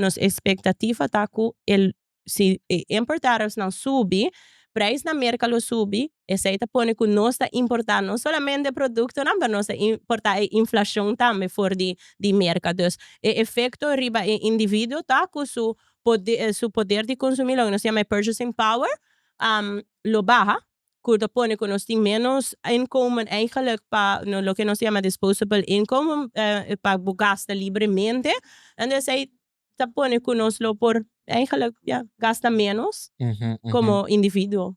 nos expectativa ta cu e si e import tariffsnan subi, prijs na merca lo subi, esey ta pone cu nos ta importa no solamente productonan, pero nos ta importa e inflacion tambe for di di merca. Dus e efecto riba e individuo ta cu su poder su poder di consumi, loke nos ta yama e purchasing power, lo baha. cu ta pone cu nos tin menos inkomen eigenlijk pa loke nos ta yama disposable income pa bo gasta libremente ende esey ta pone cu nos lo por eigenlijk ya gasta menos como individuo.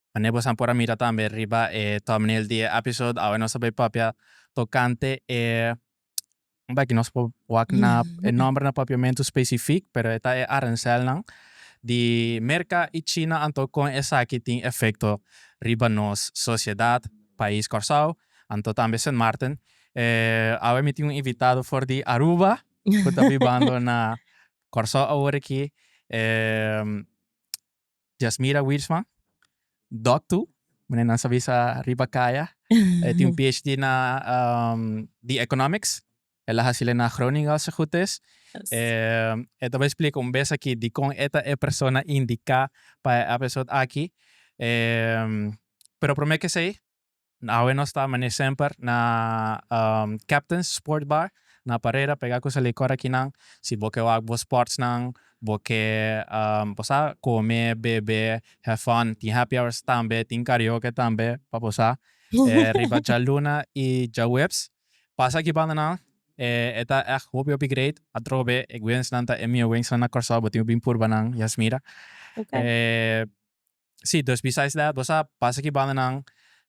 Mane bosan por a mira tambe riba e thumbnail di e episode awe nos a bay papia tocante e un beki nos por wak na e nomber na papiamento specific pero e ta e arancelnan di Merca y China anto con esaki tin efecto riba nos sociedad, pais Corsao anto tambe Sint Maarten. Awe mi tin un invitado for di Aruba cu ta bibando na Corsao awor aki. Jasmira Wiersma, doktu, mane nan sa bisa riba kaya. E tin un PhD na um, di Economics. E la hasil e na Groningen, als e goed is. Yes. E, e ta bai explica un bes aki dikon e ta e persona indica pa e episode aki. E, pero prome ke sei, Awe nos ta mane semper na Captains Sport Bar na Parera pega cu sa licor aki nan si bo ke wak bo sports nan bo ke bo sa come bebe have fun tin happy hours tambe tin karaoke tambe pa bo sa riba djaluna y djaweps pasa aki banda nan e ta echt hopi hopi great atrobe e wings nan ta e mihue wings nan na Corsou bo tin cu bin purba nan y a smira. Sí, dus besides that, bo sa, pasa ki bandanan,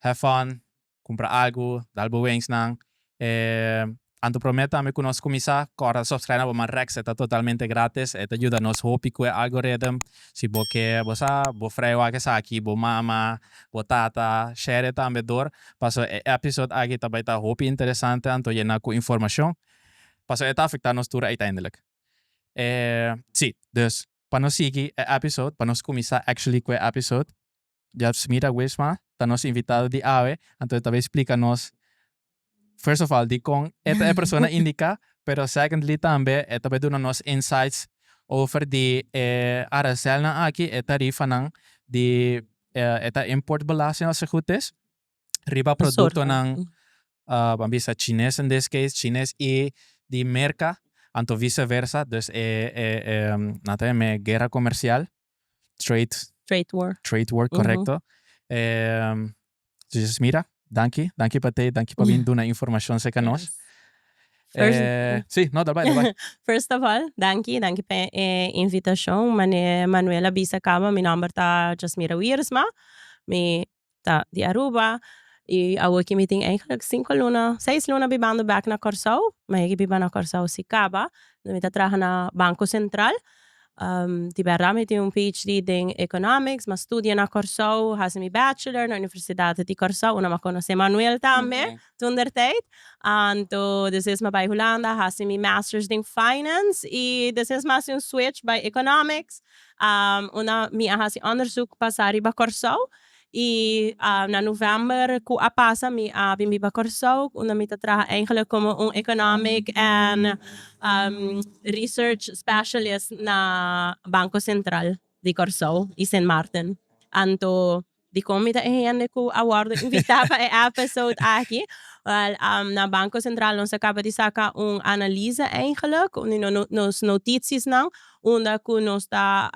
have fun, kumpra algu, dal bo wensnan. E Anto Promé tambe ku nos kuminsá, kòrda ta subskraibe na bo Manrex, e ta totalmente gratis, e ta yuda nos hopi ku e algoritm. Si bo ke, bo sa, bo frei wak esaki, bo mama, bo tata, share tambe dor, paso e èpisòd aki ta bai ta hopi interesante anto yena ku informashon, paso e ta afektá nos tur uiteindelijk. Sí, dus Pa nos sigui e episode, pa nos kuminsá actually ku e episode, Jeff Smida Wisma ta nos invitado di awe, anto e ta bai splika nos first of all dikon e ta e persona indiká, pero secondly tambe e ta bai duna nos insights over di e aranselnan aki, e tarifanan di e ta import belasting, as e gut is. riba productonan ah ban bisa chines in this case chines y di Merca anto vice versa dus e e e nan ta yam'e guerra comercial trade Trade war. trade war correcto e Jesus mira danki danki pa tei danki pa bin duna informacion seca nos Yes. e si no dal bai dal bai First of all danki danki pa e invitacion mane Manuel a bisa caba mi nomber ta Jasmira Wiersma mi ta di Aruba y awo ki mi tin eigenlijk cinco luna seis luna bibando bek na Corsou ma yeki biba na Corsou si caba mi ta traha na Banco Central di berdad mi tin un PHD den economics ma studia na Corsou hasi mi bachelor na Universidad di Corsou una ma conoce Manuel tambe Toen der tijd anto desés ma bai Hulanda hasi mi masters den finance y desés ma hasi un switch bai economics unda mi a hasi onderzoek pa sa riba Corsou y na november cu a pasa mi a bin biba Corsou unda mi ta traha eigenlijk como un economic and research specialist na banco central di Corsou y Sint Maarten anto Dikon mi ta e hende ku a wòrdu invitá pa e èpisode aki? Wèl, na Banko Sentral nos a kaba di saka un analiza eigenlik di nos notitisnan unda ku nos ta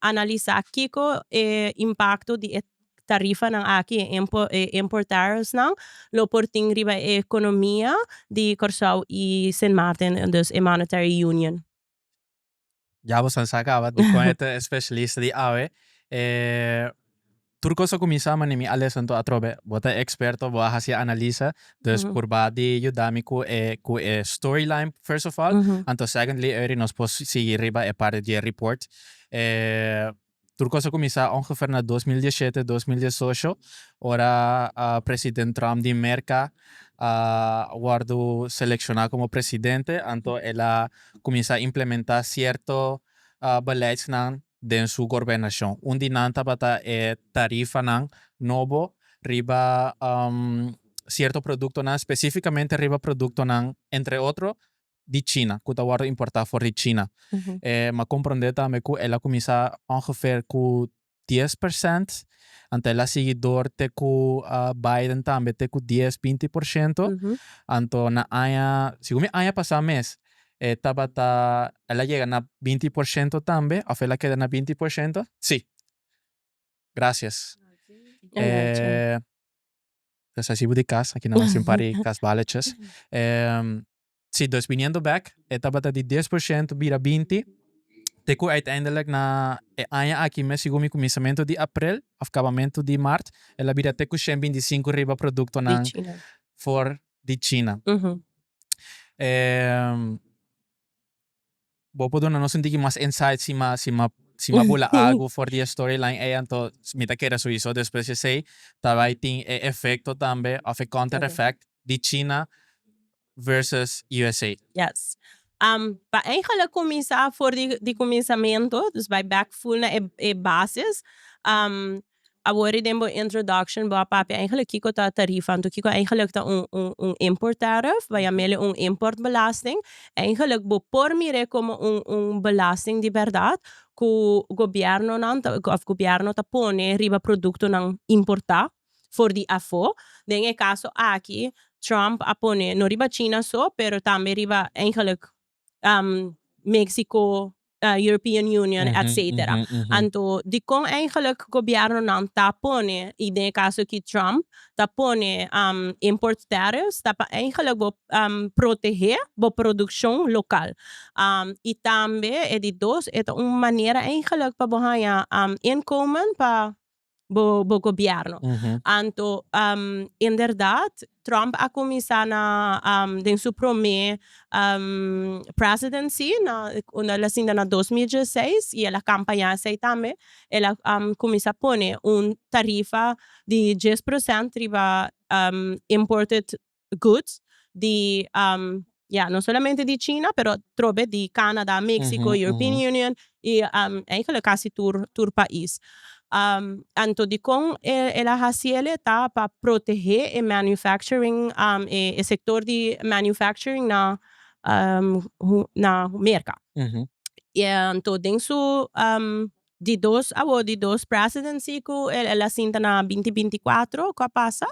analisá kiko e impakto di e tarifanan aki, e import tariffsnan, lo por tin riba e ekonomia di Kòrsou i Sint Maarten, dus e Monetary Union. Ya boso a sa caba dikon e ta e specialista di awe. E tur cos a cuminsa mane mi a lesa anto atrobe. Bo ta e experto, bo a haci e analisa, dus purba di yuda mi cu e cu e storyline first of all, anto secondly Eury nos por sigui riba e parti di e report. E Tur cos a cuminsa ongever na dos mil diecisiete, dos mil diesocho ora president Trump di Merca a wordo selecciona como presidente anto el a cuminsa implementa cierto beleidsnan den su gorbenacion. Un di nan tabata e tarifanan nobo riba cierto productonan specificamente riba productonan entre otro di China cu ta wordo importa for di China. E m'ha comprende tambe cu el a cuminsa ongeveer cu dies percent, anto el a sigui door te cu Biden tambe te cu dies, binti por ciento. Anto na aña, segun mi aña pasa mes, e tabata, el a yega na binti por ciento tambe of el a keda na binti por ciento? Si. Gracias. E Pues así bo di cas, aquí nos hacen pari cas balletjes. si, dus biniendo bek, e tabata di dies por shento bira binti, te cu uiteindelijk na e aña aki mes, segun mi, cuminsamentu di april of cabamentu di maart, el a bira te cu shen binti sinku riba productonan for di China. Bo por duna nos un tiki mas insight sima sima sima bo la algu for di e storyline ei anto mi ta kere su iso despues di esei ta bai tin e efecto tambe of e counter effect di china versus usa. Yes pa eigenlik cuminsa for di di cuminsamento dus bai back full na e bases Awor ri den bo introduction bo a papia eigenlijk kiko ta tarief anto kiko eigenlijk ta un un un import tariff bay a mele un import belasting eigenlijk bo por mire como un un belasting di berdad cu gobierno nan ta of gobierno ta pone riba producto nan importa for di afo den e caso aki Trump a pone no riba china so pero tambe riba eigenlijk Mexico, European Union etcetera anto dikon eigenlik gobièrnonan ta pone y den e caso aki Trump ta pone import tariffs ta pa eigenlik bo protege bo produccion local y tambe e di dos e ta un manera eigenlik pa bo haña inkomen pa bo bo gobierno anto inderdat Trump a cuminsa na den su prome presidency na unda el a sinta na dos mil dieseis y el a campaña esey tambe el a cuminsa pone un tarifa di dies procent riba imported goods di ya no solamente di china pero trobe di canada, mexico, european union y eigenlijk casi tur tur pais anto dicon el a haci ele ta pa protege e manufacturing e sector di manufacturing na na merca y anto den su di dos awor di dos presidency cu el a sinta na binti binti cuatro cu a pasa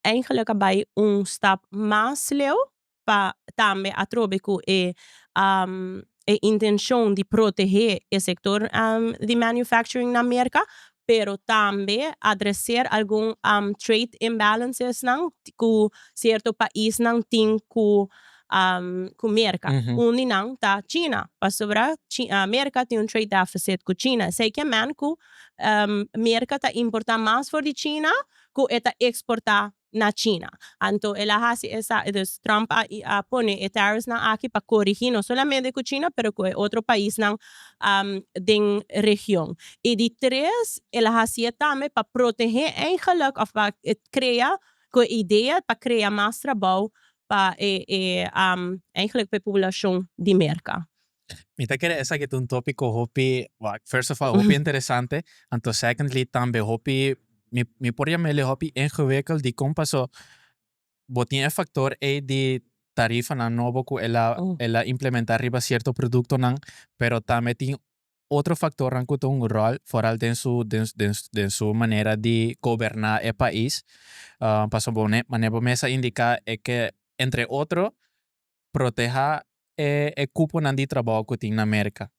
Eigenlijk a bai un stap mas leu pa tambe atrobe cu e e intencion di protehe e sector di manufacturing na Merca, pero tambe adrecer algun trade imbalancesnan cu cierto paisnan tin cu cu Merca. Un di nan ta China, pasobra Merca tin un trade deficit cu China. Esey ke men cu Merca ta importa mas for di China cu e ta exporta na China. Anto el a haci esa, dus Trump a a pone e tariffs nan aki pa corigi no solamente cu China pero cu e otro paisnan den region. Y di tres, el a haci'e tambe pa protege eigenlijk of pa crea, cu e idea pa crea mas trabao pa e e eigenlijk pa e poblacion di Merca. Mi ta kere esaki ta un tópiko hopi, first of all hopi interesante, anto secondly tambe hopi mi mi por yama el e hopi ingewikeld dikon paso bo tin e factor ei di tarifanan nobo ku el a el a implementá riba cierto productonan pero tambe tin otro factornan ku ta un ròl foral den su den den den su manera di goberná e pais pasobone mane bo mester indiká e ke entre otro protehá e e cuponan di trabou cu tin na Merca,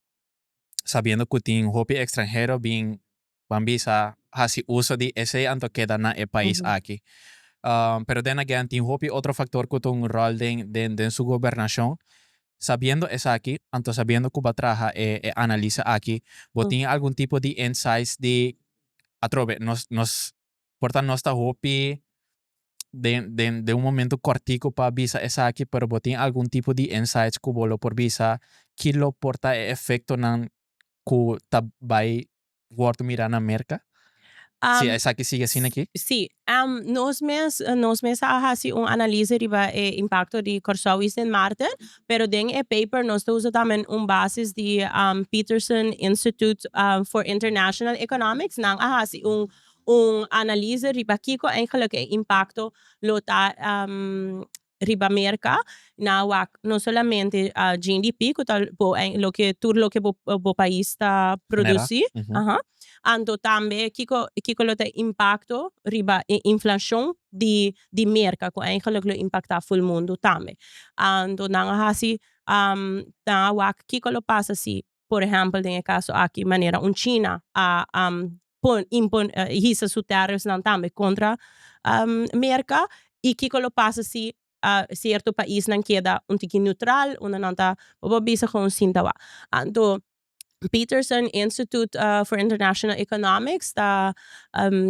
sabiendo cu tin hopi extranhero bin, ban bisa, haci uso di esey anto keda na e pais aki. Pero den again tin hopi otro factor cu ta un rol den den den su gobernacion. Sabiendo esaki, anto sabiendo cu bo a traha e e analisa aki, bo tin algun tipo di insights di, atrobe, nos nos por ta nos ta hopi den den den un momento kòrtiku pa bisa esaki, pero bo tin algun tipo di insights ku bo lo por bisa ki lo por ta e efektonan ku ta bai wòrdu mirá na Merka si esaki sigui asina aki? Sí, nos mes nos mes a hasi un analize riba e impakto di Kòrsou i Sint Maarten, pero den e paper nos ta usa tambe un basis di Peterson Institute for International Economics, nan a hasi un un analize riba kiko eigenlik e impakto lo ta riba Merka na wak no solamente GNDP ku ta loke tur loke bo pais ta produsi anto tambe kiko kiko lo ta impakto riba e inflashon di Merka ku eigenlik lo impaktá ful mundu tambe anto nan a hasi nan a wak kiko lo pasa si Por ehèmpel den e kaso aki manera un China a hisa su tèrrifnan tambe kontra Merka i kiko lo pasa si sierto paisnan keda un tiki neutral unda nan ta papia bisa kon sin ta wak. Anto Peterson Institute for International Economics ta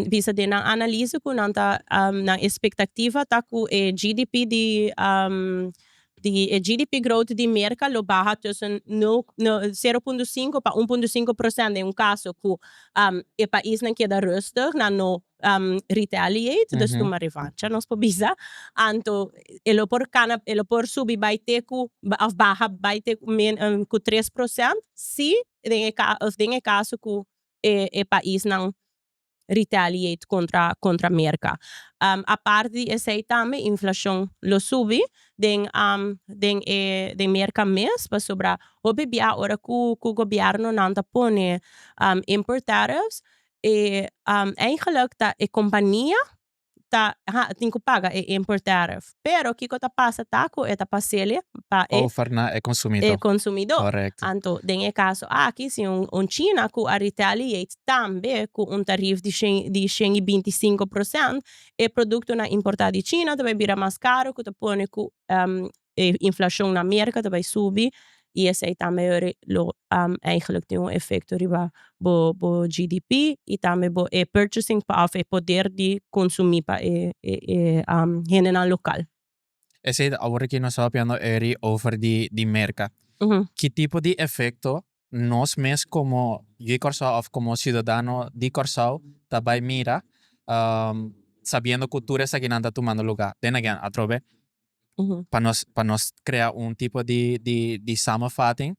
bisa den nan analise ku nan ta nan espektativa ta ku e GDP di di e GDP growth di Merka lo baha tussen sero punto sinku pa un punto sinku procent den un kaso ku e paisnan keda rustig na no retaliate dus tuma revancha nos por bisa anto e lo por kana e lo por subi bai te ku òf baha bai te ku ku tres procent si den e ka òf den e kaso ku e paisnan retaliate contra contra Merca. Aparte di esey tambe inflacion lo subi den den e den Merca mes pasobra hopi bia ora cu cu gobiernonan ta pone import tariffs e eigenlijk ta e compania ta ha tin cu paga e import tariff pero kico ta pasa ta cu e ta pasele pa e over na e consumidor e consumidor correcto anto den e caso aki si un un china cu a retaliate tambe cu un tariff di shen di shen y binti sinco procent e producto na importa di china ta bay bira mas caro cu ta pone cu e inflacion na America ta bay subi y esey tambe lo eigenlijk tin un efecto riba bo bo GDP y tambe bo e purchasing power of e poder di consumi pa e e hendenan local. Esey ta awor aki nos tabatiando eri over di di Merca ki tipo di efecto nos mes komo Ui Kòrsou òf komo siudadano di Kòrsou ta bai mira sabiendo ku tur esakinan ta tumando lugá. Den again, atrobe pa nos pa nos krea un tipo di di di samenvating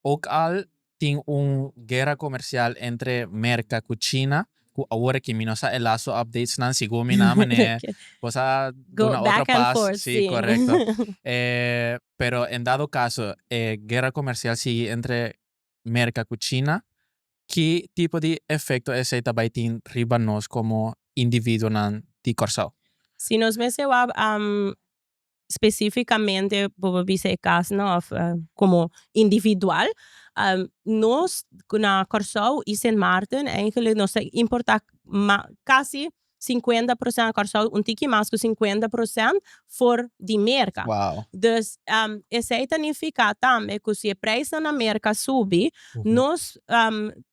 òk al tin un guera komersial entre Merka ku China. Cu awor aki mi no sa e lasto updates nan sigo mi na manera vos a duna otro pas si corecto pero en dado caso e guerra comercial sigui entre Merca cu China ki tipo di efecto esey ta bay tin riba nos como individuonan di Corsou? Si nos mester wou Specificamente bo por bisa e casnan of como individual nos na Kòrsou y Sint Maarten eigenlijk nos ta importa ma casi cincuenta procent na Kòrsou un tiki mas cu cincuenta procent for di Merca dus esey ta nifica tambe cu si e prijsnan na Merca subi nos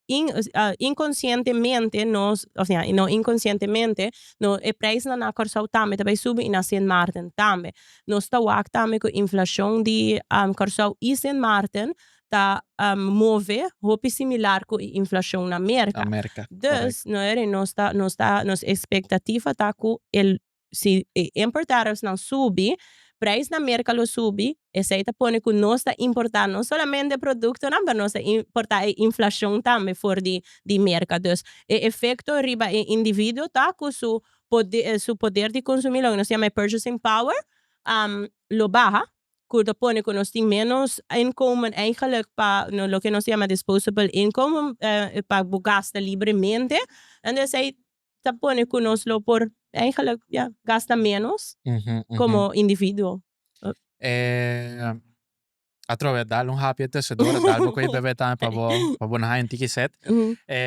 in- inconscientemente nos osea no inconscientemente No, e prijsnan na Kòrsou tambe ta bay subi i na Sint Maarten tambe. Nos ta wak tambe ku inflashon di Kòrsou i Sint Maarten ta move hopi similar ku e inflashon na Merka. Dus, no e di nos ta nos ta nos ekspektativa ta ku el si e import tariffsnan subi, prijs na Merka lo subi Esei ta pone ku nos ta importá no solamente produktonan pero nos ta importá e inflashon tambe for di di Merka. Dus e efekto riba e individuo ta ku su pode su poder di konsumí loke nos yama e purchasing power lo baha ku ta pone ku nos tin ménos inkomen eigenlijk pa no loke nos yama disposable income pa bo gasta libremente. Entonces esei ta pone cu nos lo por eigenlijk ja gasta menos como individuo. E atrobe dal un hapje e tesedora, dal bo cu e bebe tambe pa bo pa bo na haña un tiki set. E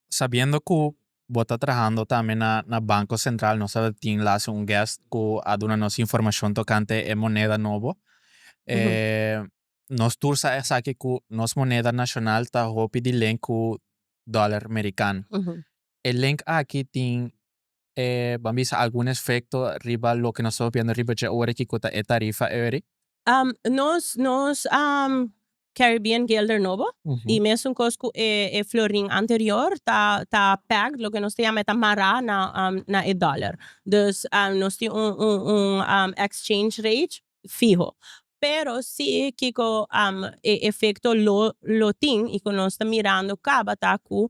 sabiendo cu bo ta trahando tambe na na Banco Central nos a tin laatst un guest cu a duna nos informacion tocante e moneda nobo. nos tur sa esaki cu nos moneda nacional ta hopi di link cu dollar merican. E link aki tin e, ban bisa, algun efecto riba loke nos ta hopiando riba dje ora y kico ta e tarifa eori? Nos, nos Caribbean Guilder nobo y mesuncoos cu e, e florin anterior ta, ta pegged, loke nos ta yama e ta mará na, na e dollar. Dus nos tin un, un, un exchange rate fiho. Pero si kiko e efecto lo lo tin y cu nos ta mirando caba ta cu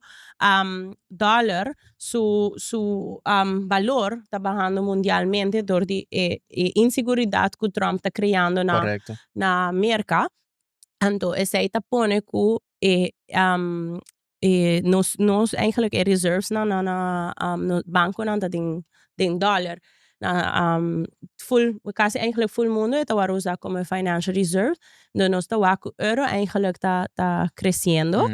dollar su su valor ta bahando mundialmente door di e e inseguridad cu Trump ta creando na na Merca anto esey ta pone cu e e nos nos eigenlik e reserves nan nan a nos banconan ta den den dollar full casi eigenlik full mundo e ta wor usa como e financial reserve dor nos ta wak cu euro eigenlik ta ta creciendo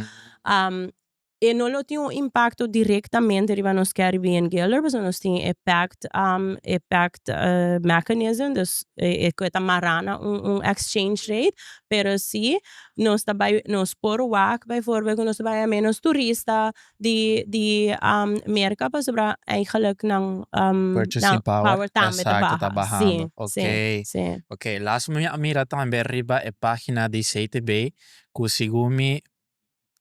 e no lo tin un impacto directamente riba nos Carribean gilder pasobra nos tin e pact e pact mechanism dus e e cu ta mara na un un exchange rate pero si Nos ta bai nos por wak bai forber cu nos ta bai a menos turista di di merca pasobra eigenlijk nan purchasing power tambe ta baha si si si. Ok laatste mi a mira tambe riba e pagina di CTB cu segun mi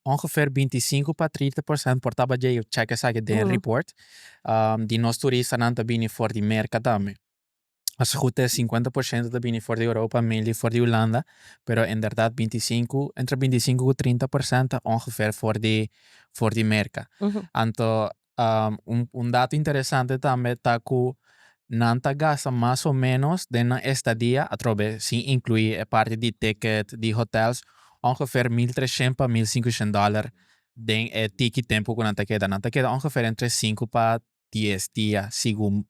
ongeveer binti sinku pa treinta por cent por taba djei check esaki den report di nos turistanan ta bini for di merca tambe. Nos hoed e cincuenta por ciento ta bini for di Europa, mainly for di Hulanda, pero en verdad binti cinco, entre binti cinco cu trinta por ciento ta ongeveer for di for di Merca. Anto un un dato interesante tambe ta cu nan ta gasta mas o menos den nan estadia atrobe sin inclui e parti di ticket, di hotels, ongeveer mil trecient pa mil cincucient dollar den e tiki tempo cu nan ta keda. Nan ta keda ongeveer entre cinco pa dies dia segun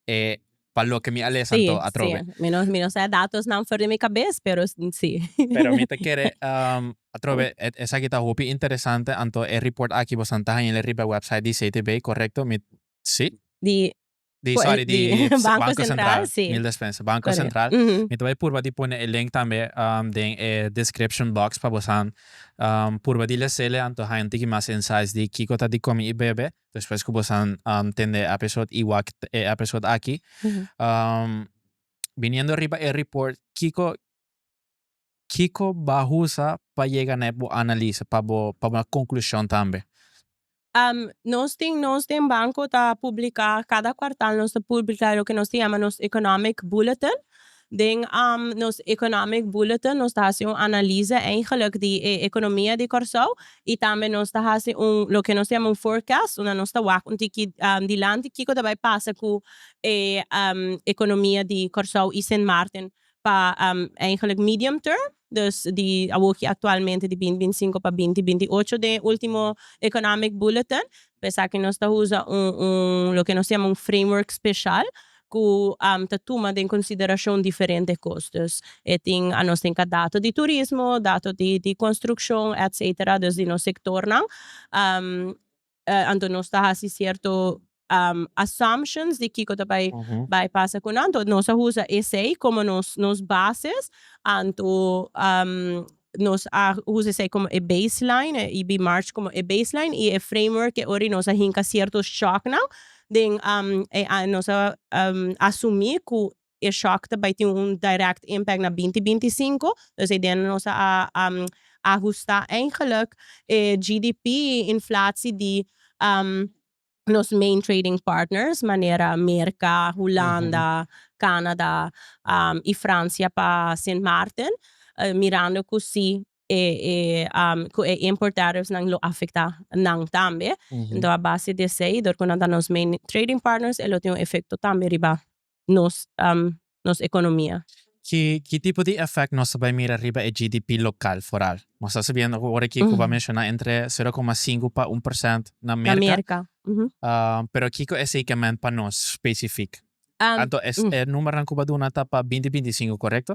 e pa loke mi a lesa Sí, anto sí. atrobe. Mi no, mi no sa e datosnan for di mi kabes, pero sí. Pero mi ta kere atrobe, e, esaki ta hopi interesante, anto e report aki bosan ta haña lei riba e website di CTB, korekto? Mi, sí? Di, Di, Ko e, sorry, di di Banko Banko Sentral, Sentral, sí. mil despensa, Banko Korekto. Sentral. Mhm. Mi ta bai purba di pone e link tambe den e description box pa bosan purba di lesele anto haña un tiki mas insights di kiko ta di komi i bebe. Despues ku bosan tende e episode iguak e episode aki, biniendo riba e report kiko kiko ba usa pa yega na e bo analise pa bo pa bo na konklushon tambe? Nos tin nos den banko ta publika kada kuartal nos ta publika loke nos ta yama nos economic bulletin Den nos Economic Bulletin nos ta hasi un analiza eigenlijk di e economia di Corsou y tambe nos ta hasi un loke nos ta yama un forecast unda nos ta wak un tiki dilanti kico ta bay pasa cu e economia di Corsou y Sint Maarten pa eigenlijk medium term. Dus di awoki aktualmente di binti binti sinku pa binti binti ocho den e ultimo Economic Bulletin pa esaki nos ta usa un loke nos ta yama un framework speshal ku ta tuma den konsiderashon diferente kostos e tin a nos tin ka dato di turismo dato di konstrukshon etsetera dus di nos sektornan. Anto nos ta hasi cierto assumptions di kico ta bay bay pasa cu nan, anto nos a usa esey como nos nos bases, anto nos a usa esey como e baseline, e EB March como e baseline y e framework e ora nos a hinca cierto shocknan den e nos a asumi cu E shock ta bai tin un direct impact na binti binti i sinku, dus e idea na nos a ahusta eigenlik e GDP inflatsi di nos main trading partners manera Merka, Hulanda, Canada i Francia pa Sint Maarten, mirando ku si e ku e import tariffs nan lo afekta nan tambe. Enton a base di esei dor ku nan ta nos main trading partners e lo tin un efekto tambe riba nos nos economia. Ki tipo di effect nos ta bay mira riba e GDP local foral? Nos ta sabiendo cu ora ki Cuba menciona entre sero coma sinku pa un percent na Merca, pero kico e seikement pa nos specific? Anto e numeronan cu bo a duna ta pa binti binti sinku, correcto?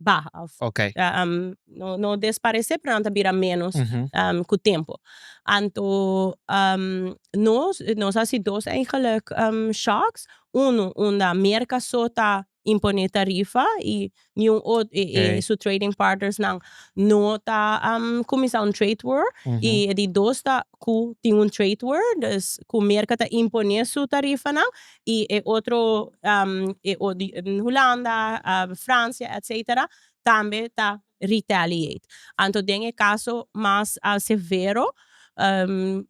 baha of no no desparece pero nan ta bira menos cu tempo anto nos nos a si dos eigenlijk shocks uno unda merca so ta impone tarifa y ni un otro y su trading partners nan no ta cuminsa un trade war y di dos ta cu tin un trade war cu merca ta impone su tarifanan y e otro Hulanda, Francia etcetera tambe ta retaliate anto den e caso mas severo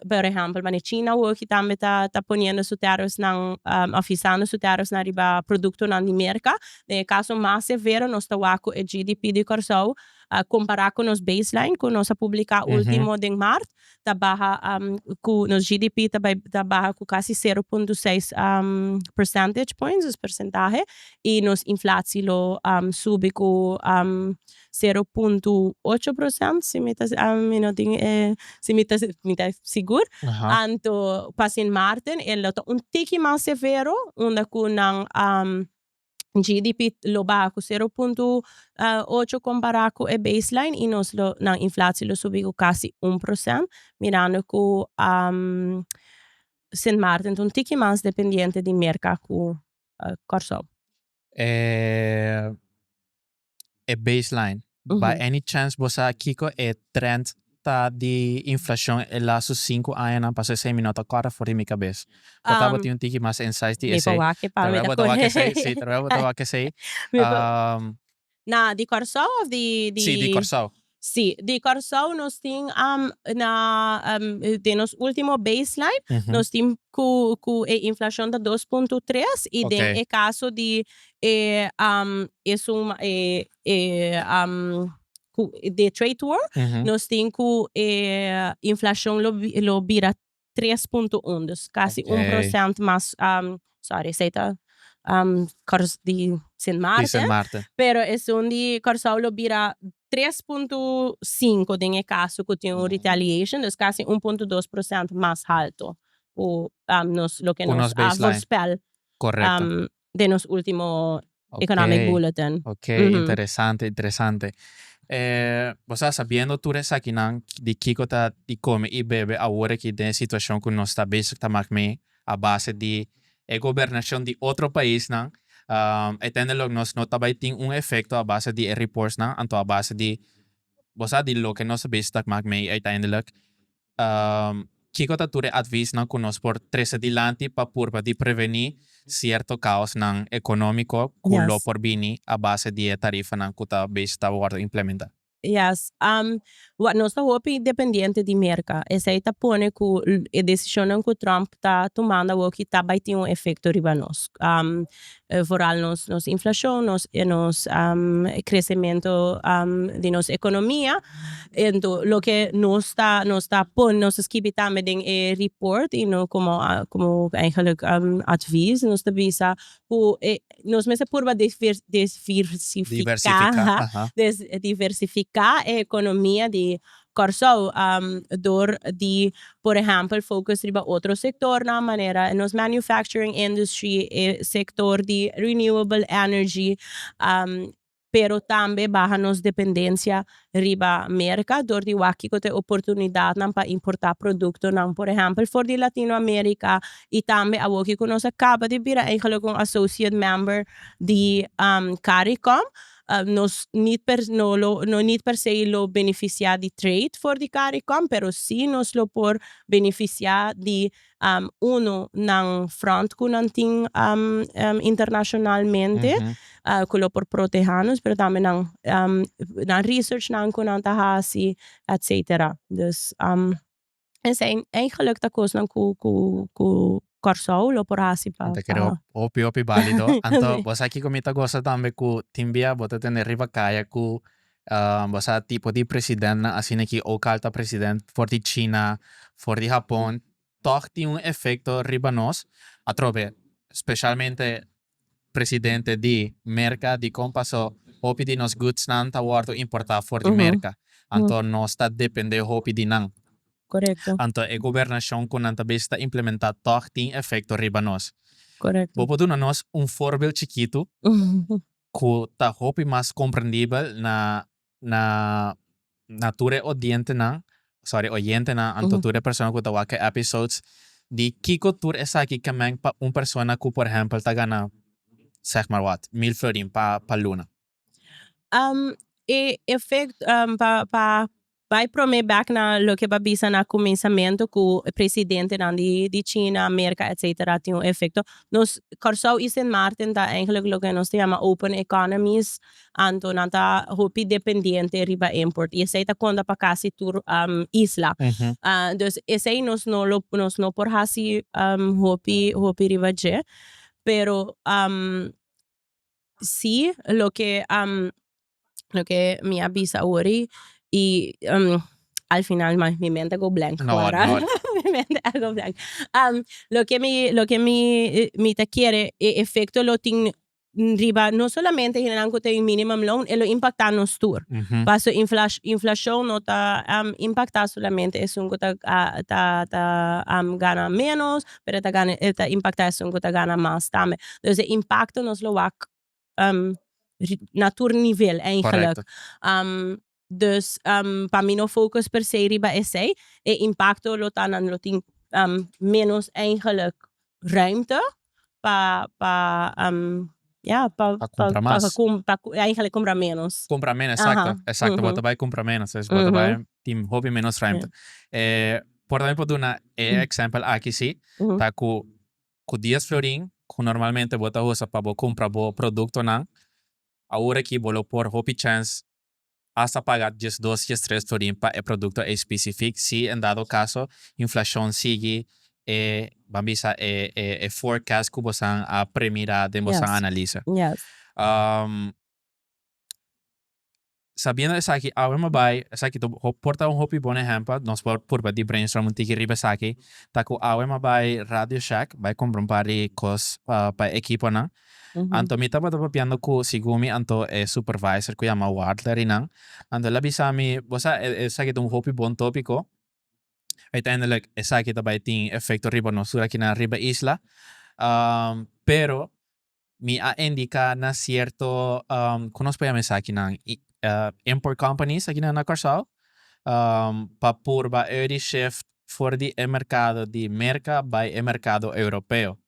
por ehempel manera China hochi tambe ta ta poniendo su tariffsnan a fisando su tariffsnan riba productonan di Merca den e caso mas severo nos ta wak cu e GDP di Kòrsou a compara cu nos baseline cu nos a publica ultimo den Maart ta baha cu nos GDP ta bay ta baha cu casi sero punto seis percentage points dus percentahe y nos inflatie lo subi cu sero punto ocho procent si mi ta mi no tin e si mi ta mi ta sigur anto pa Sint Maarten e lo ta un tiki mas severo unda cu nan. GDP lo baha cu sero punto ocho compara cu e baseline y nos lo nan inflatie lo subi cu casi un procent mirando cu Sint Maarten ta un tiki mas dependiente di merca cu Corsou. e baseline. By any chance bo sa kiko e trend ta di inflashon e lastu sinku añanan? Pasobra esei mi no ta kòrda for di mi kabes. Por ta bo tin un tiki mas insights di esei? Trabel bo ta wak esei? Si, trabel bo ta wak esei? Na di Kòrsou of di. Si, di Kòrsou. Si, di Kòrsou nos tin am na den nos último baseline nos tin ku ku e inflashon ta dos punto tres i den e kaso di e e suma e e ku di trade war nos tin ku e inflashon lo bira tres punto un dus kasi un prosent mas sorry esei ta di Sint Maarten pero esun di Kòrsou lo bira tres punto sinku den e kaso ku tin un retaliation dus kasi un punto dos prosent mas haltu ku nos loke nos a voorspel den nos ultimo economic bulletin. Ok interesante interesante bo sa sabiendo tur esakinan di kiko ta di come y bebe awor aki den e situacion cu nos ta bezig ta mak mee a base di e gobernacion di otro paisnan e tende lo nos no ta bay tin un efecto a base di e reportsnan anto a base di bo sa di loke nos ta bezig ta mak mee y uiteindelik Kiko ta tur e advisnan ku nos por trese dilanti pa purba di prevení sierto kaosnan ekonómiko ku lo por bini a base di e tarifanan ku ta bes ta wòrdu implementá? Yes. Wak, nos ta hopi dependiente di Merka. Esei ta pone ku e desishonnan ku Trump ta tumando awoki ta bai tin un efekto riba nos. vooral nos nos inflashon nos e nos kresementu di nos ekonomia entu loke nos ta nos ta pone nos ta skibi tambe den e riport i no komo komo eigenlik advies nos ta bisa ku e nos mester purba desfir desfirsifiká diversifiká e ekonomia di Kòrsou, dor di por ehèmpel focus riba otro sektornan manera e nos manufacturing industry, e sektor di renewable energy, pero tambe baha nos dependencia riba Merka dor di wak kiko ta e oportunidatnan pa importá produktonan por ehèmpel for di Latino Amerika i tambe awor kiko nos a kaba di bira eigelik un associate member di Caricom. Nos need per no lo no need per se lo beneficia di trade for di Caricom pero si nos lo por beneficia di uno nan front cu nan tin internacionalmente cu lo por proteha nos pero tambe nan nan research nan cu nan ta haci etcetera dus. Esei eigenlijk ta kosnan ku ku ku Kòrsou lo por hasi pa Anto kere pa hopi hopi bálido. Anto Sí. bo sa kiko mi ta gosa tambe ku tin bia bo ta tende riba kaya ku bo sa tipo di presidentnan asina ki ouk al ta president for di China for di Hapon tòg tin un efekto riba nos atrobe speshalmente presidente di Merka dikon pasó hopi di nos goodsnan ta wòrdu importá for di Merka, anto nos ta dependé hopi di nan. Korekto. Anto e gobernashon ku nan ta bes ta implementá tòg tin efekto riba nos. Bo por duna nos un forbel chikitu ku ta hopi mas komprendibel na na na tur e odientenan, sorry oyentenan anto tur e persona ku ta wak e episodes di kiko tur esaki ke meng pa un persona ku por ehèmpel ta gana seg maar wat mil florin pa pa luna. E efekt pa pa bai prome bek na loke bo a bisa na kuminsamentu ku presidentenan di di China, Amerika etsetera tin un efekto nos Kòrsou i Sint Maarten ta eigenlijk loke nos ta yama open economies Anto nan ta hopi dependiente riba import y esey ta conta pa casi tur isla. Dus esey nos no lo nos no por haci hopi hopi riba dje pero si loke loke mi a bisa awori y al final man mi mente go blank awor mi mente a go blank loke mi loke mi mi ta kere e efecto lo tin. riba no solamente hinennan cu ta in minimum loan e lo impacta nos tur paso inflacion no ta impacta solamente esun cu ta gana menos pero e ta impacta esun cu ta gana mas tambe dus e impacto nos lo wak na tur nivel eigenlijk. Dus pa mi no focus per se riba esey, e impacto lo ta nan lo tin menos eigenlik ruimte pa pa ya pa pa compra mas pa eigenlik compra menos compra menos exacto exacto bo ta bay compra menos es bo ta bay tin hopi menos ruimte por mi por duna e example aki si ta cu cu dies florin cu normalmente bo ta usa pa bo compra bo productonan awor aki bo lo por hopi chance Asta paga diesdos diestres florin pa e producto ei specific si en dado caso inflacion sigui e ban bisa e e forecast cu bosan a premira den bosan analisa. Sabiendo esaki awe mi bay esaki por ta un hopi bon ehempel nos por purba di brainstorm un tiki riba esaki ta cu awe mi bay radio shack bay compra un par di cos pa e ekiponan Anto mi tabata papiando cu Sigumi anto e supervisor cu yama Wadler y nan. Anto el a bisa mi, Bo sa, esaki ta un hopi bon topico. Uiteindelijk, esaki ta bay tin efecto riba nos tur aki na riba isla. Pero, mi a indica na cierto, con nos por yama esakinan? Import companies aki na Curaçao, pa purba eu di shift for di e mercado di Merca bay e mercado Europeo.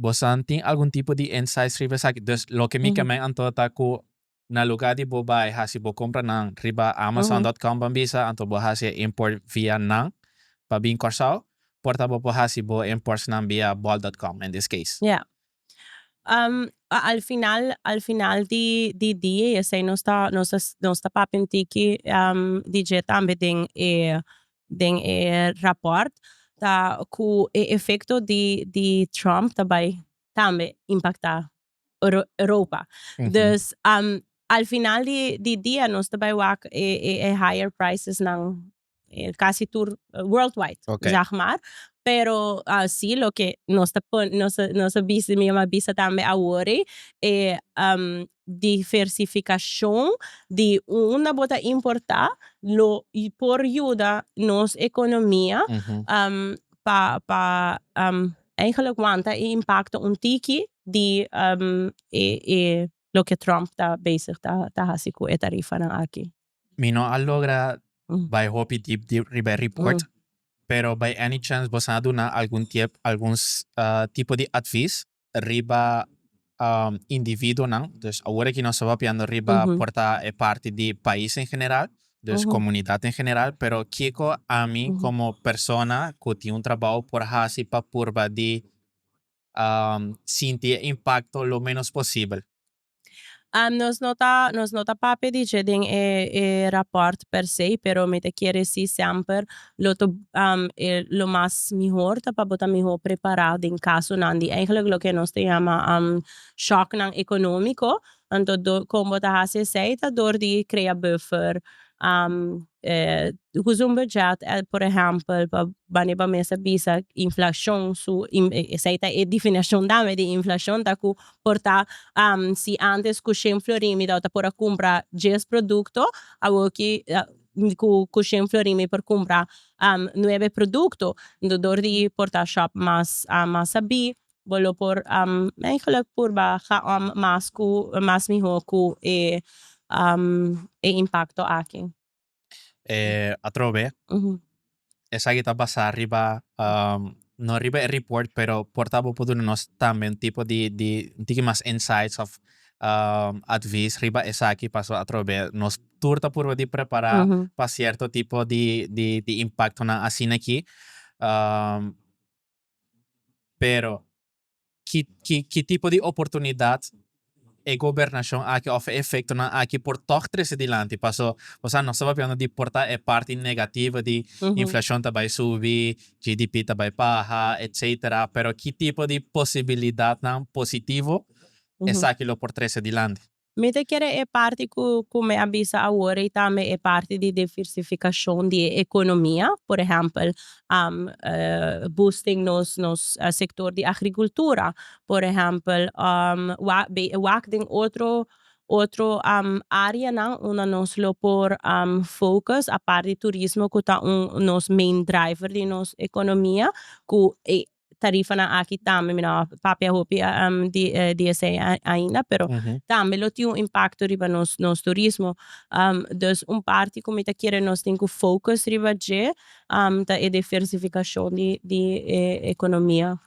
Bosan tin algun tipo di inside scribe esaki. Dus loke mi ke men anto ta ku na luga di bo bai hasi bo kompranan riba Amazon dot com ban bisa anto bo hasi e import via nan pa bin Kòrsou por ta bo por hasi bo importsnan via bol dot com in this case. Ya. Al final al final di di dia i esei nos ta nos ta papia un tiki di dje tambe den e Den e raport ta cu e efecto di Trump ta bay tambe impacta Europa. Dus al final di dia nos ta bay wak e higher prices nan casi tur worldwide zeg maar. Pero si loke nos ta nos ta bisa mi a bisa tambe a worry e diversificacion di unda bo ta importa lo por yuda nos economia pa pa eigenlijk wanta e impacto un tiki di e loke Trump ta bezig ta haci cu e tarifanan aki. Mi no a logra bay hopi diep diep riba e report, pero by any chance bo sa a duna algun tiep algun tipo di advies riba individuonan, dus awor aki nos ta papiando riba por ta e parti di pais en general, dus comunidad en general, pero kico ami como persona cu tin un trabou por haci pa purba di sinti e impacto lo menos posibel? nos no ta nos no ta papia di dje den e e rapòrt per se pero mi ta kere si semper lo to e lo mas mihor ta pa bo ta mihor prepará den kasonan di eigenlik loke nos ta yama shòknan ekonómiko anto do kon bo ta hasi esei ta dor di krea buffer usa un budget por ehèmpel pa banin pa mester bisa inflashon su esei ta e definishon dame di inflashon ta ku Por ta si antes cu shen florin mi tabata por a cumpra dies producto awor ki cu shen florin mi por cumpra nuebe producto entonces door di por ta shop mas mas a bi bo lo por eigenlijk purba gaom mas cu mas miho cu e impacto aki. eh, atrobe, Ujú. esaki ta basá riba, um, no riba e report, pero por ta bo por duna nos tambe un tipo di, di, un tiki mas insights of um, advies riba esaki, paso atrobe nos tur ta purba di prepará Ujú. pa cierto tipo di, di, di impactonan asina aki. Um, pero, ki ki ki tipo di oportunidat e gobernashon aki òf e efektonan aki por tòg trese dilanti. Paso, bosa no ta papia di por ta e parti negativo di inflashon ta bai subi, GDP ta bai baha, etsetera, pero ki tipo di posibilidatnan positivo esaki lo por trese dilanti? Mi ta kere e parti ku ku mi a bisa awor ei tambe e parti di diversifikashon di e ekonomia, por ehèmpel boosting nos nos sektor di agrikultura, por ehèmpel wak be e wak den otro otro áreanan unda nos lo por focus apart di turismo ku ta un nos main driver di nos ekonomia ku e tarifanan aki tambe mi no a papia hopi di di esei ainda pero tambe lo tin un impacto riba nos nos turismo dus un parti ku mi ta kere nos tin ku focus riba dje ta e diversificacion di di e economia.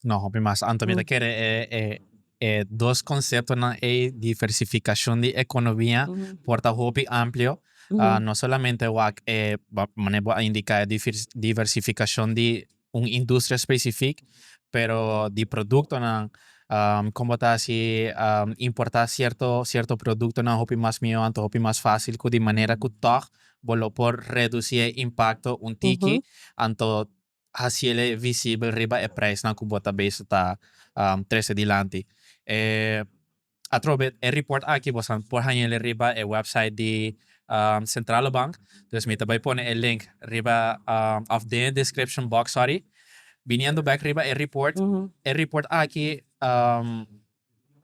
No hopi mas anto mi ta kere e e dos conceptonan ei diversificacion di economia por ta hopi amplio no solamente wak e mane bo a indica e diversificacion di un industria specific pero di productonan con bo ta haci importa cierto cierto productonan hopi mas mijo anto hopi mas facil cu di manera cu tog bo lo por reduci e impacto un tiki anto hacile visibel riba e prijsnan cu bo ta bezig ta trece dilanti. Atrobe e report aki bo sa por haña eli riba e website di Centrale Bank. Dus mi ta bai pone e link riba of den e description box, sorry. Biniendo bek riba e report, e report aki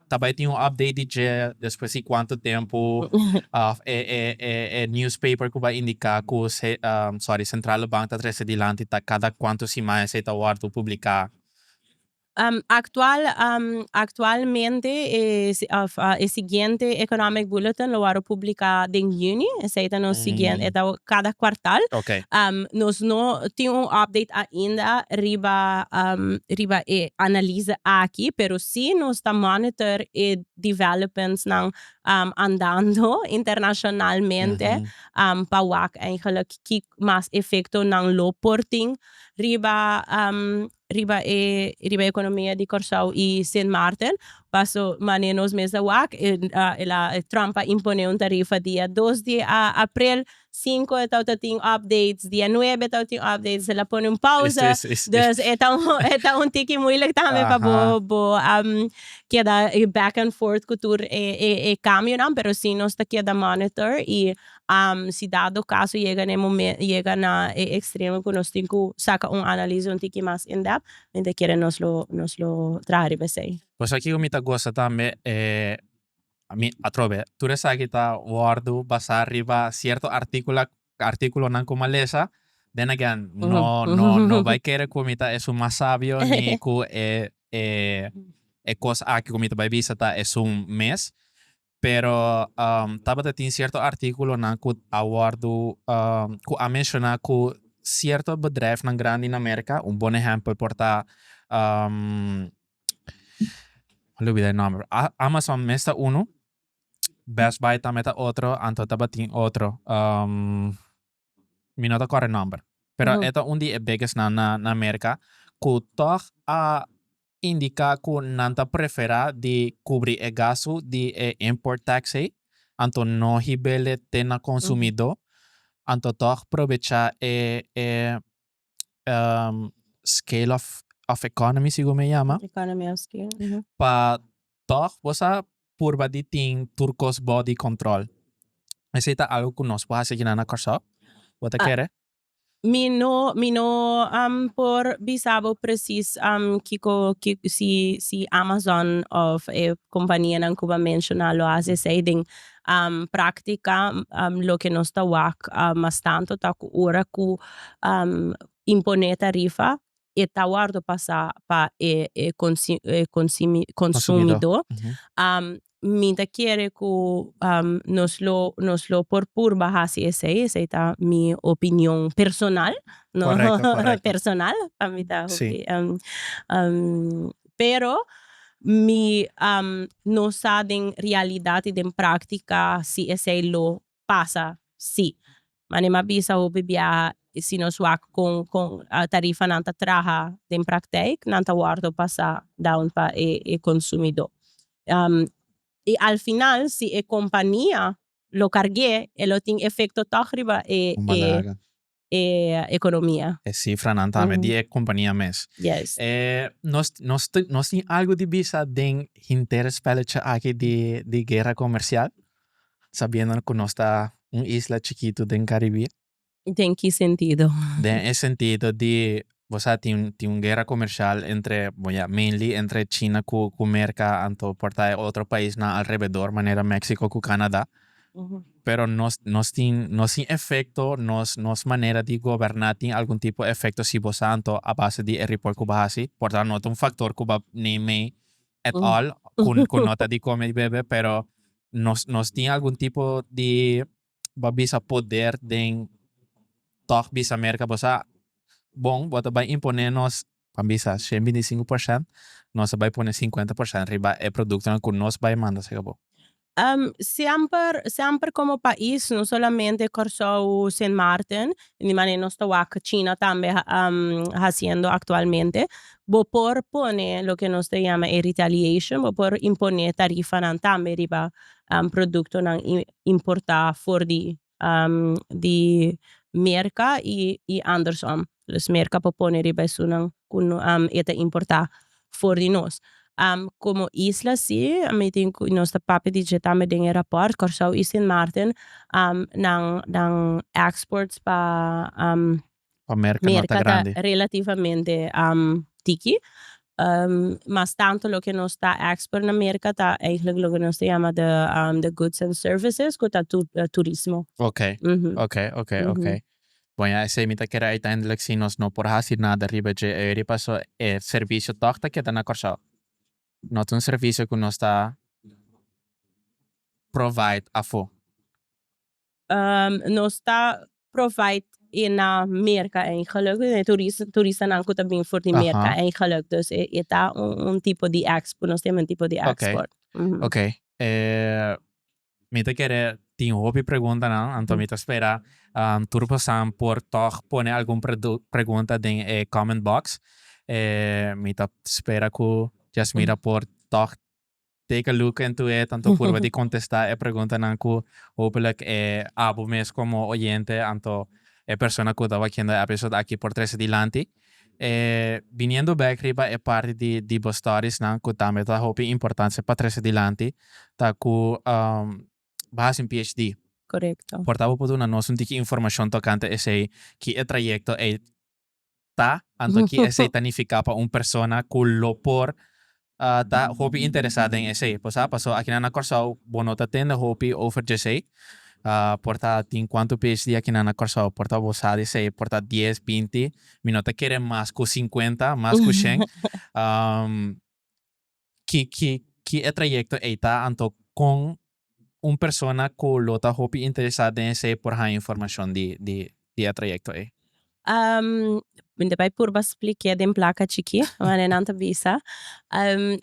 ta bai tin un update di dje despues di cuanto tempo of e newspaper cu bai indica cu sorry Centrale Bank ta trece dilanti ta cada cuanto siman esey ta wordo publica. Actual actualmente e siguiente Economic Bulletin lo wòrdu publiká den yüni, esei ta nos siguiente, e ta kada kuartal. Nos no tin un update ainda riba riba e analiza aki, pero si nos ta monitor e developmentsnan andando internashonalmente pa wak eigenlijk ki mas efektonan lo por tin riba riba e riba e economia di Corsou y Sint Maarten paso mane nos mes a wak Trump a impone un tarifa dia dos di April cinco e tabata tin updates dia nuebe e tabata tin updates el a pone un pausa dus e ta un e ta un tiki moeilijk tambe pa bo bo keda back and forth cu tur e e e cambionan pero si nos ta keda monitor y Si dado caso yega na e momen yega na e extremo cu nos tin cu saca un analise un tiki mas in depth mi ta kere nos lo nos lo traha riba esey. Pues aki cu mi ta goza tambe e ami atrobe tur esaki ta wordo basa riba cierto articulo articulonan cu mi a lesa then again no no no bay kere cu mi ta esun mas sabio ni cu e e e cos aki cu mi ta bay bisa ta esun mes. Pero tabata tin cierto articulonan cu a wordo, cu a menciona cu cierto bedrijfnan grandi na America, un bon ehempel por ta lo olbida e nomber, Amazon mes ta uno, Best Buy tambe ta otro, anto tabatin otro. mi no ta kòrda e nòmber, pero e ta un di e biggesnan na na Merka ku tòg a indiká ku nan ta preferá di kubrí e gastu di e import tax ei, anto no hib'el e te na konsumidó, anto tòg probechá e e um, scale of, of economy, sigur me llama. Economy of scale. Uh -huh. Pa toch, vos a purba di tin tur cos body control. Ese ta algo cu nos por haci aquí na Corsao. Vos ta ah. kere? Mi no, mi no um, por bisabo precies um, kiko, kiko, si, si Amazon of e eh, companianan cuba menciona lo hace esei den Práktika, Loke nos ta wak mas tantu ta ku ora ku imponé tarifa e ta wòrdu pasá pa e konsumidó. Mi ta kere ku nos lo nos lo por purba hasi esei, esei ta mi opinion personal, no, personal pa mi ta hopi. pero mi no sa den realidad y den practica si esey lo pasa si. Manera m'a bisa hopi biaha si nos wak con con tarifanan ta traha den praktijk nan ta wordo pasa down pa e e consumidor y al final si e compania lo carge e lo tin efecto toch riba e e e economia. E cifranan tambe di e compania mes. Yes. E nos nos nos tin algo di bisa den hinter spelletje aki di di guerra comercial sabiendo cu nos ta un isla chikito den Caribe. Den ki sentido? Den e sentido di bo sa tin tin un guerra comercial entre bon ya mainly entre china cu cu merca anto por ta e otro paisnan alrededor manera Mexico cu Canada pero nos nos tin nos tin efecto nos nos manera di goberna tin algun tipo efecto si bo sa anto a base di e report cu bo hasi por tan no ta un factor cu bo neem mee at all cu cu no ta di come di bebe pero nos nos tin algun tipo di. bo bisa poder den tok bisa mer ka bo sa bon bo ta bai impone nos pa bisa shen binti sinku porsent nos ta bai pone sinkuenta porsent riba e produktonan ku nos bai manda saka bo. Semper semper komo pais no solamente Kòrsou Sint Maarten di manera nos ta wak china tambe hasiendo aktualmente bo por pone loke nos ta yama e retaliation bo por impone tarifanan tambe riba produktonan importá for di di Merka i i andersom dus Merka por pone riba esunnan ku no e ta importá for di nos komo isla si mi tin ku nos ta papia di dje tambe den e rapòrt Kòrsou i Sint Maarten nan nan èksports pa. pa merka no ta grandi. Merka ta relativamente tiki, mas tanto loke nos ta export na merka ta eigenlijk loke nos ta yama de de goods and services ku ta turismo. Okay, okay, okay, okay. Bon ya esei mi ta kere uiteindelijk si nos no por hasi nada riba dje eri paso e servisio tog ta keda na Kòrsou. No ta un servisio ku nos ta provide afo. nos ta provide e na merka ei geluk e turistanan ku ta bin for di merka ei geluk dus e ta un tipo di expo nos ta menti for di expo. Ok mi ta kere tin hopi preguntanan anto mi ta spera tur pasan por tog pone algun pregunta den e comment box mi ta spera ku Jasmira por tog take a look into it, anto purba di contesta e preguntanan cu hopelijk e abo mes como oyente anto e persona cu ta wakiendo e episode aki por trece dilanti. E biniendo back riba e parti di Dibo Stories nan cu tambe ta hopi importancia pa trece dilanti ta cu bo hasi un PhD. Correcto. Por ta bo por duna nos un tiki informacion tocante esey, ki e trayecto ey ta, anto ki esei ta nifiká pa un persona ku lo por ta hopi interesá den esei. Bo sa, pasó akinan na Kòrsou bo no ta tende hopi over dj'esei, por ta tin kuantu PhD akinan na Kòrsou, por ta bo sa di esei, por ta dies, binti, mi no ta kere mas ku sinkuenta, mas ku shen. Ki ki ki e trayecto ey ta anto con un persona cu lo ta hopi interesa den esey por haya informacion di di di e trayecto ey? Mente bay purba splikia den placa chiki mane nan ta bisa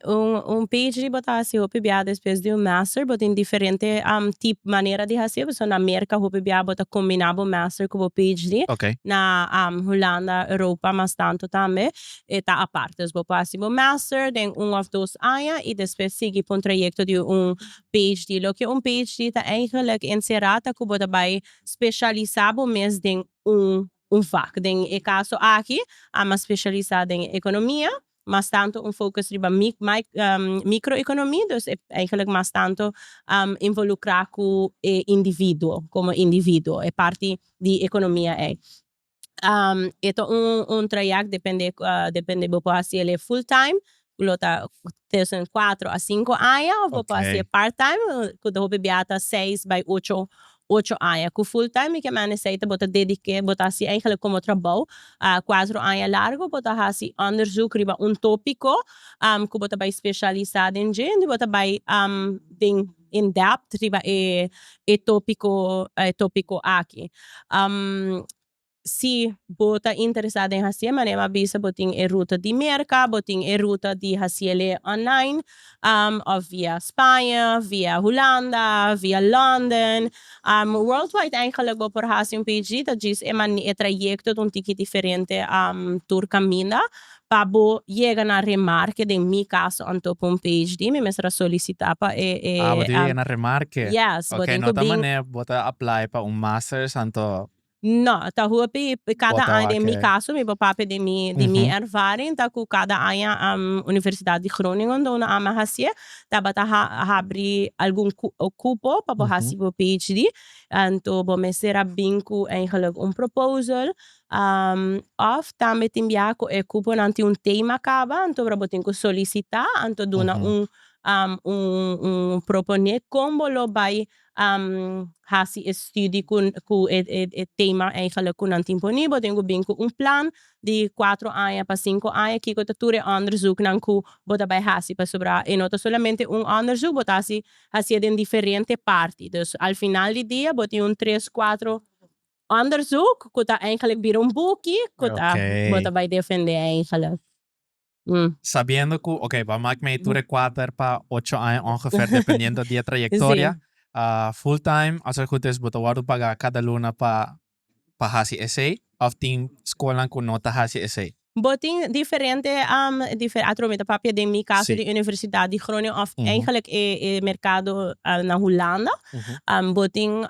un un phd bo ta haci hopi bia despues di un master bo tin diferente tip manera di haci pasobra na merca hopi bia bo ta combina bo master cu bo phd na Hulanda Europa mas tanto tambe e ta aparte. Bo por hasi bo master den un of dos aña y despues sigui pa un trayecto di un PHD. Loke un PHD ta eigenlijk encera ta cu bo ta bay specialisa bo mes den un un vak. Den e caso aki Ama a specialisa den economia, mas tanto un focus riba mic mic microeconomie, dus e eigenlijk mas tanto involucra cu e individuo como individuo, e parti di economia ey. e ta un trayèk depende depende bo por hasi el'e full time ku lo ta tussen cuatro a cinco aña of bo por hasi e part time ku ta hopi biaha ta seis bai ocho ocho aña ku full time mi ke mende sei bo ta dedik'é bo ta hasi eigenlik komo trabou cuatro aña largu bo ta hasi onderzoek riba un topiko ku bo ta bai specialisa den dje bo ta bai den in depth riba e e topico e topico aki si bo ta interesa den hacié manera mi a bisa bo tin e ruta di Merca bo tin e ruta di haciele online of via Spaña via Hulanda via London world wide eigenlik bo por haci un PhD ta djis e mane e trayecto ta un tiki diferente tur caminda Pa bo yega na remarke den mi caso anto pa un PhD mi mester a solicita pa e e Ah, bo tin cu yega na remarke. Yes, bo tin cu bring. Ok, no ta manera bo ta apply pa un masters anto. No, ta hopi cada aña den mi caso mi por papia di mi di mi ervaring ta cu cada aña Universidad di Groningen do no ama hacié tabata habri algun cupo pa bo haci bo PhD anto bo mester a bring cu eigenlijk un proposal Um, òf tambe tin biaha ku e kuponan tin un tema kaba, anto obra bo tin ku solisitá, anto duna un, um, un, un proponé kon bo lo bai, um, hasi e studi ku, ku e, e, e tema eigenlik ku nan tin poni. Bo tin ku bin ku un plan di kuatro aña pa sinku aña, kiko ta tur e òndersuknan ku bo ta bai hasi pasobra e no ta solamente un òndersuk, bo ta hasi, hasié den diferente parti. Dus al final di dia bo tin un tres, kuatro. onderzoek ku ta eigenlijk bira un buki ku ta bo ta bai defende eigenlijk. Sabiendo ku oke bo a mak mee tur e kuater pa ocho aña ongefer dependiendo di e trayektoria full time as e gut is bo ta wòrdu pagá kada luna pa pa hasi esei òf tin skolnan ku no ta hasi esei? Bo tin diferente atrobe ta papia den mi kaso di Universidad di Groningen òf eigenlijk e merkado na Hulanda bo tin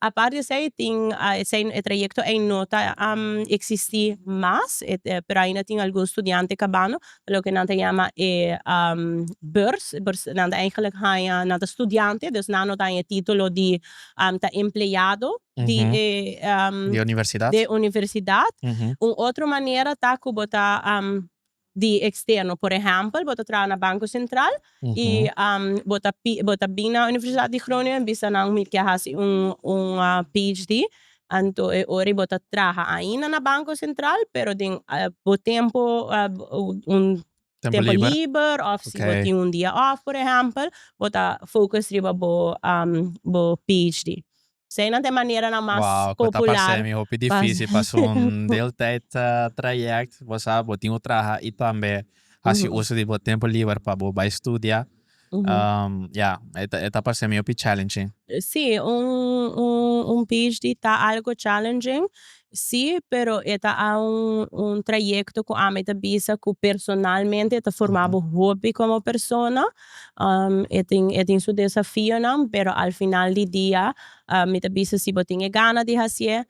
Apart di esei tin esei e trayecto ei no ta existi mas pero ainda tin algun studiante cabando loke nan ta yama e beurs nan ta eigenlijk haña nan ta studiante dus nan no ta haña e titulo di ta empleado di e di e universidad un otro manera ta cu bo ta di eksterno. Por ehèmpel, bo ta traha na Banko Sentral i bo ta bo ta bin na Universidat di Groningen bisa nan mi ke hasi un un PHD anto e ora ei bo ta traha ainda na Banko Sentral pero den bo tempo un tempo liber òf si bo tin un dia òf por ehèmpel bo ta focus riba bo bo PHD. So eynan ta e maneranan mas popular. Wow, cu ta pas'e mi hopi dificil pas un deel tijd trayect. Bo sa bo tin cu traha y tambe haci uso di bo tempo liber pa bo bay studia. Ya, e ta pas'e mi hopi challenging. Si, un phd ta algo challenging Sí, pero e ta a un trayecto cu ami ta bisa cu personalmente ta forma bo hopi como persona e tin e tin su desafionan pero al final di dia mi ta bisa si bo tin e gana di hacié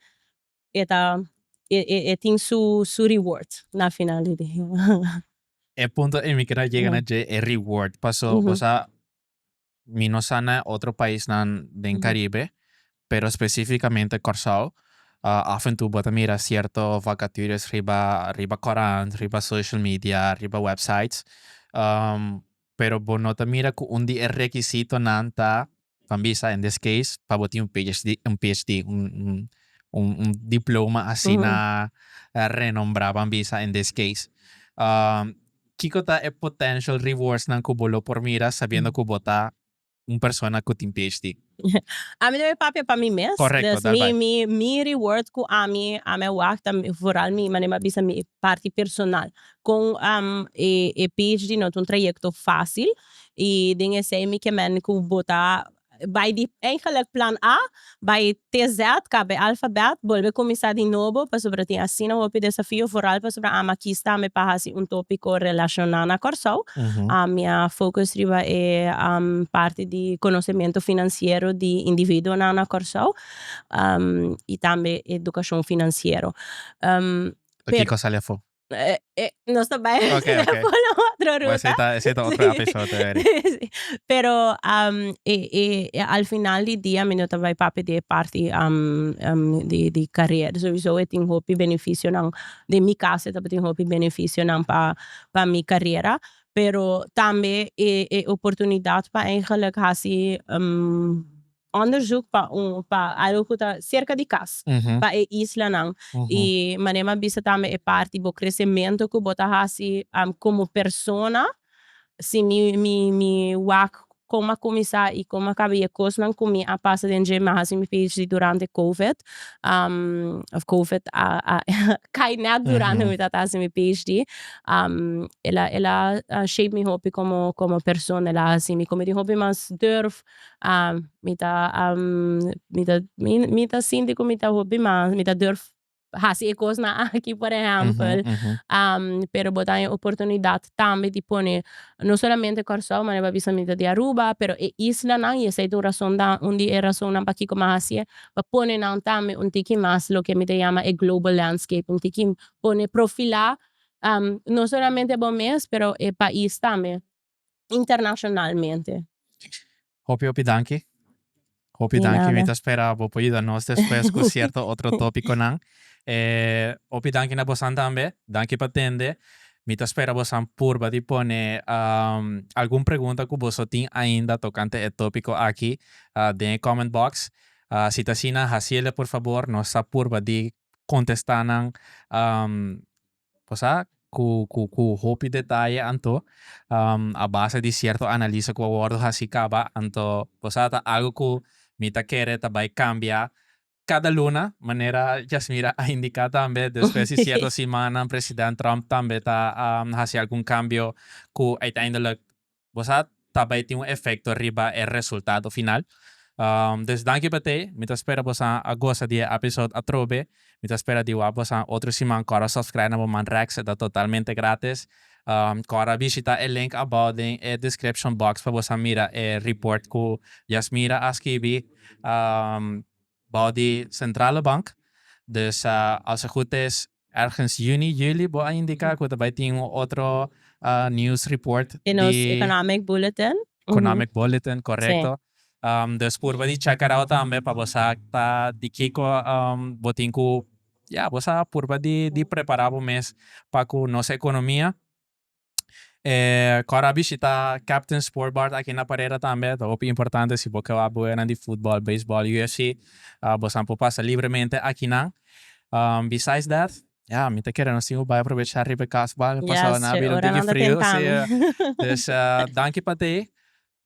e ta e- e- e tin su su reward na final di dia. E punto ei mi keda yega na dje e reward paso bo sa mi no sa na e otro paisnan den Caribe, pero specificamente Corsou, af en tu bo ta mira cierto vacatures riba riba corant, riba social media, riba websites, pero bo no ta mira cu un di e requisitonan ta, ta bisa in this case, pa bo tin un PhD, un PhD, un un diploma asina renombrado, ban bisa in this case. Kiko ta e potential rewardsnan ku bo lo por mira sabiendo ku bo ta un persona ku tin PhD? Ami lo mi papia pa mi mes. Correcto, Dus mi mi mi reward ku ami ami a wak vooral mi manera mi a bisa mi parti personal kon e e PhD no ta un trayecto fácil i den esei mi ke mende ku bo ta Bai di Eigenlijk Plan A, bai TZ, kab'e alfabèt, bolbe kuminsá di nobo, pasobra tin asina hopi desafio, foral pasobra ama aki sta mi pa hasi un tópiko relashoná na Kòrsou. Mi a focus riba e parti di konosementu finansiero di individuonan na Kòrsou i tambe edukashon finansiero. Aki kos sali afó? Nos ta bai hesera por un otro ruta. Esei ta otro episodio weri. Si, pero al final di dia mi no ta bai papia di e parti di carera. Souso e tin hopi beneficionan, den mi caso e tabatin hopi beneficionan pa mi carera, pero tambe e oportunidad pa eigenlijk haci onderzoek pa un pa algo cu ta cerca di cas pa e islanan y manera m'a bisa tambe e parti bo crecemento cu bo ta haci como persona si mi mi mi wak con m'a cuminsa y con m'a caba y e cosnan cu mi a pasa den dje m'a haci mi phd durante covid of covid a a cay net durante cu mi tabata haci mi phd el a el a shape mi hopi como como persona el a haci mi como tin hopi mas durf mi ta mi ta mi ta sinti ku mi ta hopi mas mi ta durf hasi e kosnan aki por ehèmpel pero bo ta haña oportunidat tambe di pone no solamente kòrsou mane bo a bisa mi ta di aruba pero e islanan y esei ta un rason dan un di e rasonnan pakiko mi a hasié pa pone nan tambe un tiki mas loke mi ta yama e global landscape un tiki pone profilá no solamente bo mes pero e pais tambe. internacionalmente. Hopi hopi danki. Hopi danki mi ta spera bo por yuda nos despues cu cierto otro topiconan. Hopi danki na bosan tambe. Danki pa tende. Mi ta spera bosan purba di pone algun pregunta cu boso tin ainda tocante e topico aki den e comment box. Si ta asina haciele por favor. Nos ta purba di contesta nan cosa cu cu cu hopi detaye anto a base di cierto analisa cu a wordo haci caba anto cosa ta algo cu mi ta kere ta bay cambia cada luna manera Yasmira a indica tambe despues di cierto simannan president Trump tambe ta haci algun cambio cu uiteindelijk bo sa ta bai tin un efekto riba e resultado final. Des danki pa te, mi ta spera bosa a gosa di e episode atrobe, mi ta spera di wak bosa otro siman kor a subscribe na bo man Rex, e ta totalmente gratis. Kor a bishita e link abao den e description box pa bosa mira e report ku Yasmira a skibi bao di Centrale Bank, dus als e gut is Ergens juni, juli bo a indica cu ta bay tin un otro news report di. Di nos Economic Bulletin. Economic Bulletin, correcto. Si. Dus purba di check arao tambe pa bo sa ta di kico bo tin cu, ya, bo sa purba di prepara bo mes pa cu nos economia. Kor a bishita Captain Sport Bar ta aki na Parera tambe ta hopi importante si bo ke wak boenan di futbal, beisbal, UFC bosan por pasa libremente aki nan besides that ya mi ta kere nos tin ku bai aprovecha riba e kas bai pasa nan riba un tiki frio si danki pa tei.